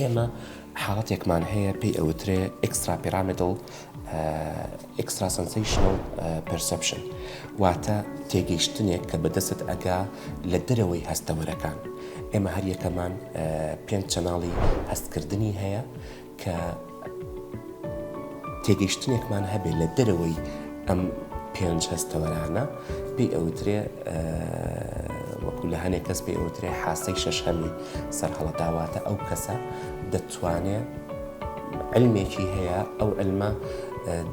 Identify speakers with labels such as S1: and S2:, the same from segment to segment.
S1: ئێمە حاڵەتێکمان هەیە پێی ئەوترێ Extrapyramidal Extrasensational Perception واتە تێگەیشتنێک کە بەدەستت ئەگا لە دەرەوەی هەستەوەرەکان ئێمە هەریەکەمان پێنج چەناڵی هەستکردنی هەیە کە تێگەیشتنێکمان هەبێت لە دەرەوەی ئەم پێنج هەستەوەرانە پێی ئەوترێ وەکو لە هەنێک کەس پێی ئەوترێ حاسەی شەشەمی سەرهەڵەداواتە ئەو کەسە دەتوانێت علمێکی هەیە ئەو علمە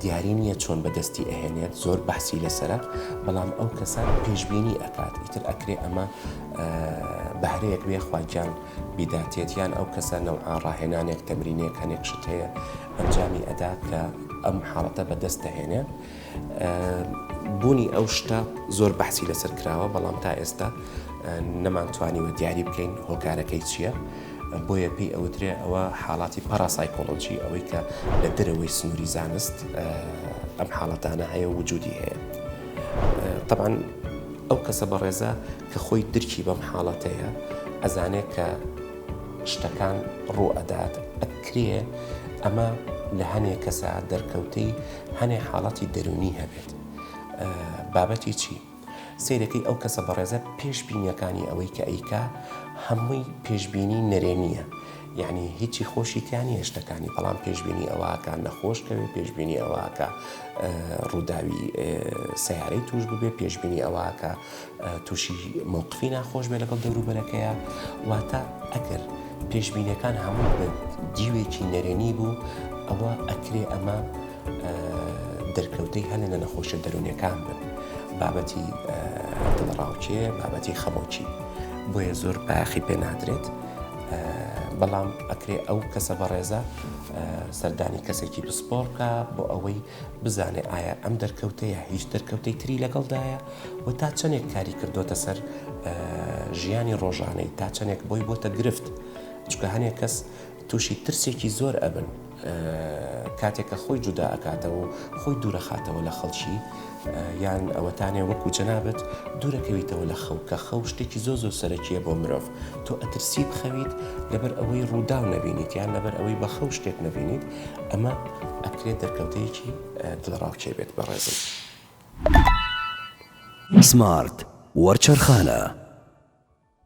S1: دیاری نییە چۆن بەدەستی ئەهێنێت زۆر بەحسی لەسرە بەڵام ئەو کەسە پێشببینی ئەکات ئیتر ئەکرێ ئەمە بەهرەیەک بێ خواجان بیداتێت یان ئەو کەسە نەوعا ڕاهێنانێک تەمرینێک هەنێک شت هەیە ئەنجامی ئەدا کە ئەم حاڵەتە بەدەست دەهێنێ بوونی ئەو شتە زۆر بەحسی لەسەر کراوە بەڵام تا ئێستا نەمانتوانیوە دیاری بکەین هۆکارەکەی چییە؟ بۆیە پێی ئەوترێ ئەوە حاڵاتی پەراسایکۆلۆجی ئەوەی کە لە دەرەوەی سنووری زانست ئەم حاڵەتانە هەیە وجودی هەیە طبعا ئەو کەسە بەڕێزە کە خۆی درکی بەم حاڵەتەیە ئەزانێ کە شتەکان ڕوو ئەدات ئەکرێ ئەمە لە هەنێ کەسا دەرکەوتەی هەنێ حاڵەتی دەروونی هەبێت بابەتی چی؟ سیرەکەی ئەو کەسە بەڕێزە پێشبینیەکانی ئەوەی کە ئەیکا هەمووی پێشببینی نەرێنیە یعنی هیچی خۆشیتیان هێشتەکانی بەڵام پێشببینی ئەوواکە نەخۆشکەوێت پێشببینی ئەوواکە ڕووداوی سیارەی توش ببێ پێشببینی ئەوواکە تووشی مەوقفی ناخۆش بێت لەگەڵ دەوروبەرەکەیا، واتە ئەگەر پێشبینیەکان هەمووی بە دیوێکی نەرێنی بوو، ئەوا ئەکرێ ئەمە دەرکەوتەی هەلە لە نەخۆشیە دەرونیەکان بن، بابەتی دڵەڕاوکێ، بابەتی خەمۆکی، بۆیە زۆر بایەخی پێ نادرێت، بەڵام ئەکرێ ئەو کەسە بەڕێزە سەردانی کەسێکی پسپۆڕ بکا بۆ ئەوەی بزانێ ئایا ئەم دەرکەوتەیە هیچ دەرکەوتەی تری لەگەڵدایە، و تا چەنێک کاری کردۆتە سەر ژیانی ڕۆژانەی تا چەنێک بۆی بۆتە گرفت چکە هەنێک کەس تووشی ترسێکی زۆر ئەبن کاتێکە خۆی جودا ئەکاتەوە و خۆی دوورەخاتەوە لە خەڵکی یان ئەوەتانێ وەکو جەنابەت دوورەکەویتەوە لە خەو کە خەو شتێکی زۆ زۆ سەرەکیە بۆ مرۆڤ تۆ ئەترسی بخەویت لەبەر ئەوەی ڕوودا و نەبینیت یان لەبەر ئەوەی بە خەو شتێک نەبینیت ئەمە ئەکرێت دەرکەوتەیەکی دڵەڕاوکێ بێت بەڕێزم. سمارت
S2: وەرچەرخانە.